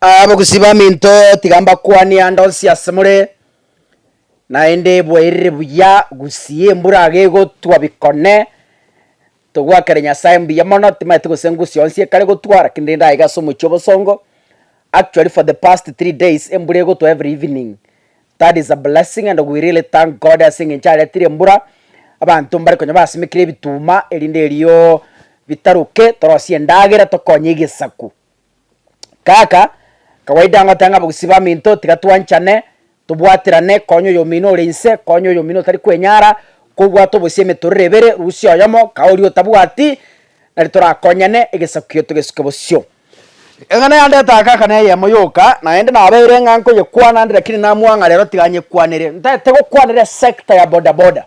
Abagusii baminto, tiga mbakwanie ande onsi asemore, naende bwaerire buya gusii embura iga egotwa bikone, togwakere Nyasaye mbuya mono, timaeti gose ngusi onsi ekare gotwa lakini rende aiga ase omochie obosongo, actually for the past three days embura egotwa every evening, that is a blessing and we really thank God ase eng'encho aretire embura, abanto mbare konya basimekire ebituma erinde erio bitaruke, torosie endagera tokonye egesaku. Kaka, kawaida ngote ng'a bogsi baminto tiga twanchane, tobwaterane, konya oyomino ore inse, konya oyomino otari kwenyara, kobwate obosie emetorero ebere, rusia oyomo, kaa oria otabwati, nari torakonyane, egesaku kiaito gesuke bosio. Eng'ana yande etagaka neyemo yoka, naende nabeire ng'a nkoyekwana ande, rakini namwang'a rero tiga nyekwanere, ntaete gokwanera esecta ya bodaboda.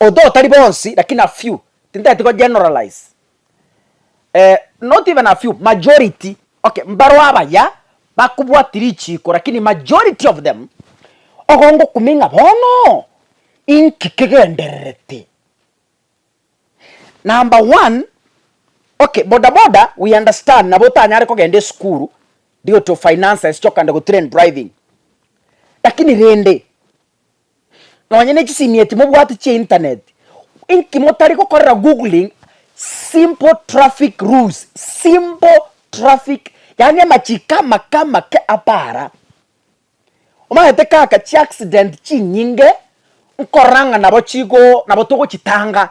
Although tari bonsi lakini a few, tintageti ko generalize, eh, not even a few, majority, okay, mbarwo abaya bakobwati richiiko lakini majority of them, ogo ngokumia ng'a bono inki kegendererete? Number one, okay, boda boda we understand nabo otanyare kogenda esukuru, rigotio finances chokande gotrain driving, lakini rende nonye ne chisimieti mobwate chia internet, inki motari gokorera googling simple traffic rules, simple traffic yaani amachiko amake amake abe ara. Omanyete kaka chi accident chinyinge nkorora ng'a nabo chigo nabo togochitanga,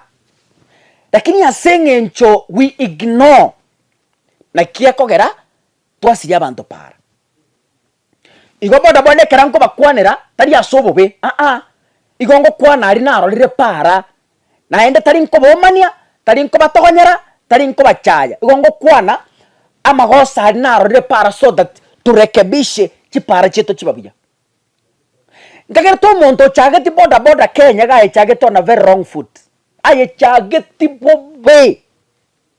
lakini ase eng'encho we ignore naki ekogera twasiria abanto paara. Igo bono bono ekero nkobakwanera, tari ase obobe, aa, igo ngokwana aria narorire para, naende tari nkobomania, tari nkobatogonyera, tari nkobachaya, igo ngokwana amagoso aria narorire para so that turekebishe chipara chiaito chiba buya. Ntagerete omonto ochageti boda boda Kenya iga ayechagete on a very wrong foot, ayechageti bobe.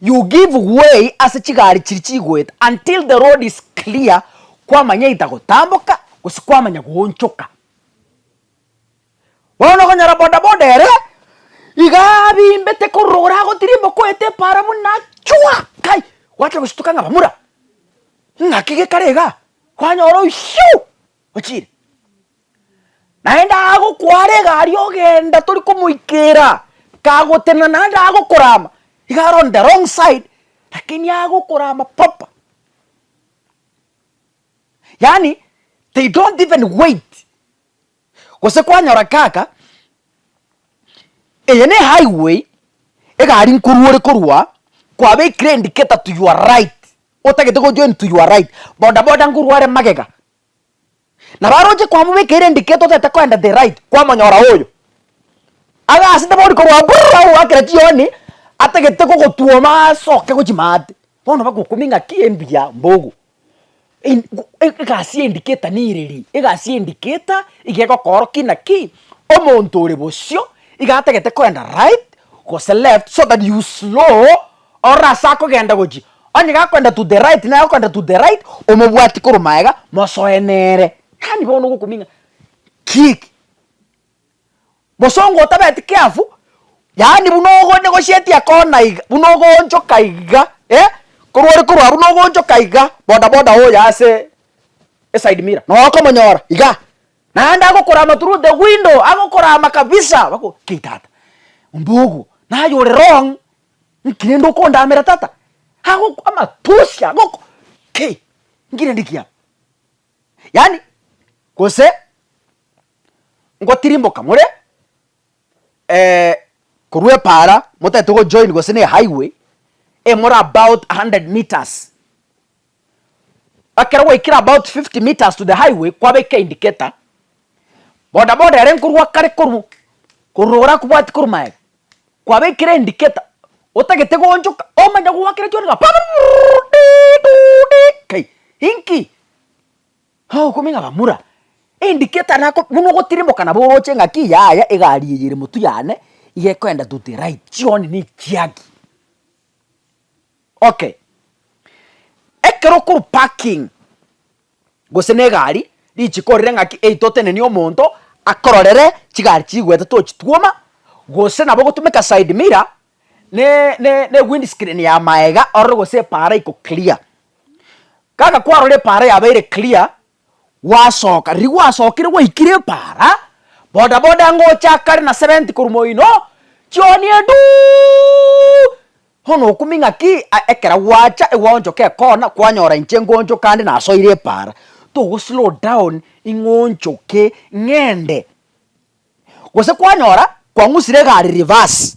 You give way ase chigari chiria chigoeta until the road is clear kwamanyaita gotamboka gose kwamanya goonchoka. Bono okonyora bodaboda ere iga abimbete korora ore agotirimboka oeta epaara buna chwa kai gwachia gostuka ng'a bamura ng'aki gekare igaa kwanyora oyu shiu ochire. Naende agokwara egari ogenda tori komoikera, kagotenena naende agokorama, iga arondi the wrong side lakini agokorama proper, yaani they don't even wait, gose kwanyora kaka eye ne highway egari nkorwa ore korwa kwabekire indicator to your right, otagete gojoin to your right, bodaboda nkorwa are magega. Nabo aroche kwamobekera endiketo otagete koenda the right kwamonyora oyo agasete bori korwa brrrr agogoakera chioni atagete gogotwoma asoke gochi maate bono bagokumia ng'aki embuya mbogo in go egasi ya indicator nere ri egasi ya indicator iga egokoorokia inaki omonto ore bosio iga atagete koenda right gose left so that you slow Ororo ase akogenda gochia, onye gakoenda to the right naye agokoenda to the right, omobwati korwa magega, mosoe nere. Yaani bono ogokuming'a ki eki? Mosongo otabeti careful, yaani buna ogo negosheti ekona iga, buna ogoonchoka iga eh, korwa ore korwa buna ogoonchoka iga, boda boda oye ase eside mirror nonya okomonyora igaa, naende agokurama through the window, agokurama kabisa, bakobora kei tata, omba ogo, naye ore wrong. Nki rende okondamera tata? Ago amatusi ago ki? Nki rende kiabo? Yaani gose ngotirimboka more eh, korwa epaara motagete gojoin gose ne highway emore about a hundred metres. Ekero gwaikire about fifty metres to the highway kwabeka indicator, boda boda ere nkorwa akare korwa korwa ore akobwati korwa maega, kwabekire indicator otagete goonchoka omanye goakera chionsi ng'a purururururu dii duu dii kai inki? Ogokumi ng'a bamura indicator nako buna ogotirimboka nabo oroche ng'aki yaya egari eye ere motwe yane iga ekoenda to the right chioni nichiaki. Okay, ekero okorwa parking gose na egari, richiko orire ng'aki eyi totenenie omonto akororere chigari chigwete tochitwoma, gose nabo ogotumeka side mirror ne ne ne wind screen ya maega orore gose epaara iko clear. Kaka kwarora epaara yabeire clear. Gwasoka, riria gwasokire gwaikire epaara, boda boda ngocha akare na seventy korwa moino, chioni enduu! Bono okumia ng'aki a ekero gwacha egwaonchoka ekona kwanyora inche ngonchoka ande nasoire epaara, togo slow down ing'onchoke ng'ende. Gose kwanyora kwang'usire egari reverse,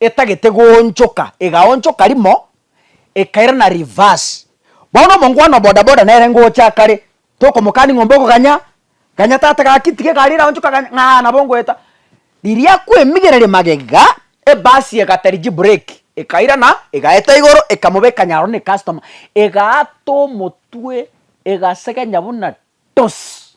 etagete goonchoka, egaonchoka rimo ekairana reverse. Bono omongwana o bodaboda nere ngocha akare, tokomokani ng'o mboko ganya, ganya tata gaki tiga egari eraonchoka ganya, ng'aa nabo ngoeta. Riria akwemigereria magega, ebasi egatarigi breki, ekairana, egaeta igoro, ekamobeka nyaro ne customer, egaata omotwe, egasegenya buna toss.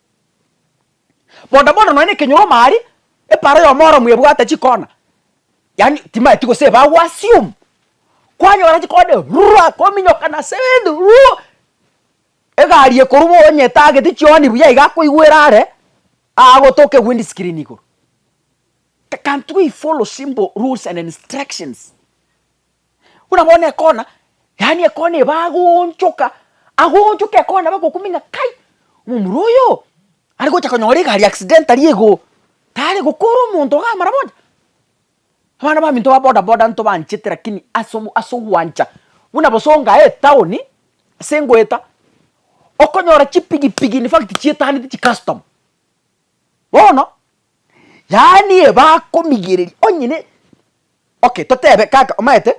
Bono bono nonya ekenyoro omari epara y'omoro mwebwate chikona yaani timaeti gose ebagu assume kwanyora chikona rurua kominyoka nase ebinto ruu egari ekorwa onye etagete chihoni buya iga akoigwera are agotoke windscreen igoro. Can't we follow simple rules and instructions. Buna bono ekona, yaani ekona eba agoonchoka, agoonchoka ekona nabo agokumia ng'a kai, omomura oyo are gocha konyora egari accidentally igoo, tare gokora omonto iga amara bocha. Abana baminto ba boda boda ntobaanchete lakini ase omo ase ogwancha buna bosa ongae etown ase ngoeta, okonyora chipigi pigi in fact chietagete chicustomer. Bono, yaani eba akomigereri onye ne. Okay totebe kaka omaete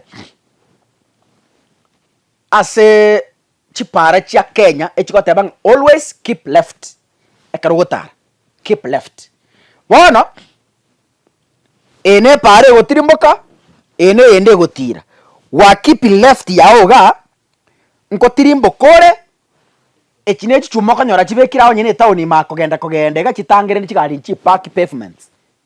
ase chipara chia Kenya echigoteba ng'a always keep left ekero ogotara keep left bono eye ne para egotirimboka eye ne eyende egotira gwa keeping left yago igaa nkotirimboka ore echi ne echichuma okonyora chibekire ago onye ne etown ime aa kogenda kogenda iga chitangereri chigariri chipaki pavements.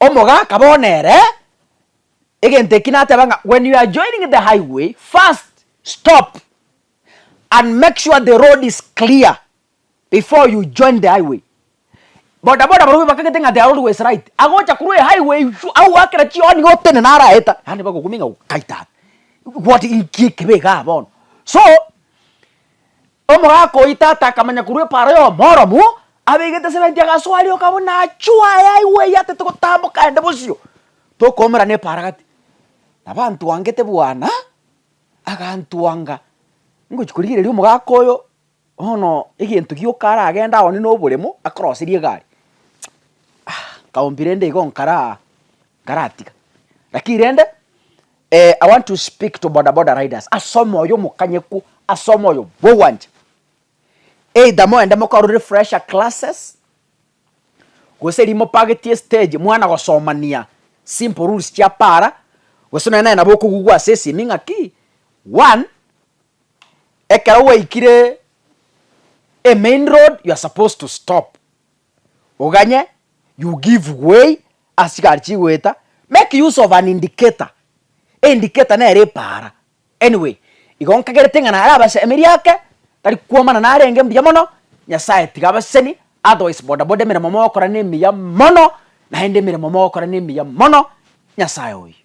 Omoga akaba one ere, egento eki nateba ng'a when you are joining the highway first stop and make sure the road is clear before you join the highway. Boda boda barobwo bakagete ng'a their road was right, agocha korwa ehighway iywo agoakera chihoni iga otene naro aeta naende bagokumia ng'a kaitana, what inki ekebe igaa bono so. Omogaka oito ata akamanya korwa epaaro y'Omooromu, abeegete esebenti agasoa rioka buna achua aye aigwe eyatete gotamboka aende bosio, tokoomera nepaara gati. Nabo antwangete bwana, agantwanga ngochia korigereria omogaka oyo, bono egento gioka aragende agwo onde noboremo, akoroserie egari. Nkabombira ende igo nkara aa. Nkaratiga. Lakini rende eh, I want to speak to bodaboda riders ase omoyo omokanyeku ase omoyo bw'ogwancha. Either moende mokore refresher classes gose riria mopagetie stage mwana gosomania simple rules chia para gose nonye naye nabo okogugwa ase esimi ng'aki one, ekero gwaikire emain road you are supposed to stop. Oganye, you give way ase chigari chigoeta, make use of an indicator, indicator nere epaara. Anyway, igo nkagerete ng'a nare abasemerie ake, tari kwomana narenge mbuya mono, Nyasaye tiga abaseseni, otherwise bodaboda emeremo mogokora nemiya mono, naende emeremo mogokora nemiya mono, Nyasaye oyio.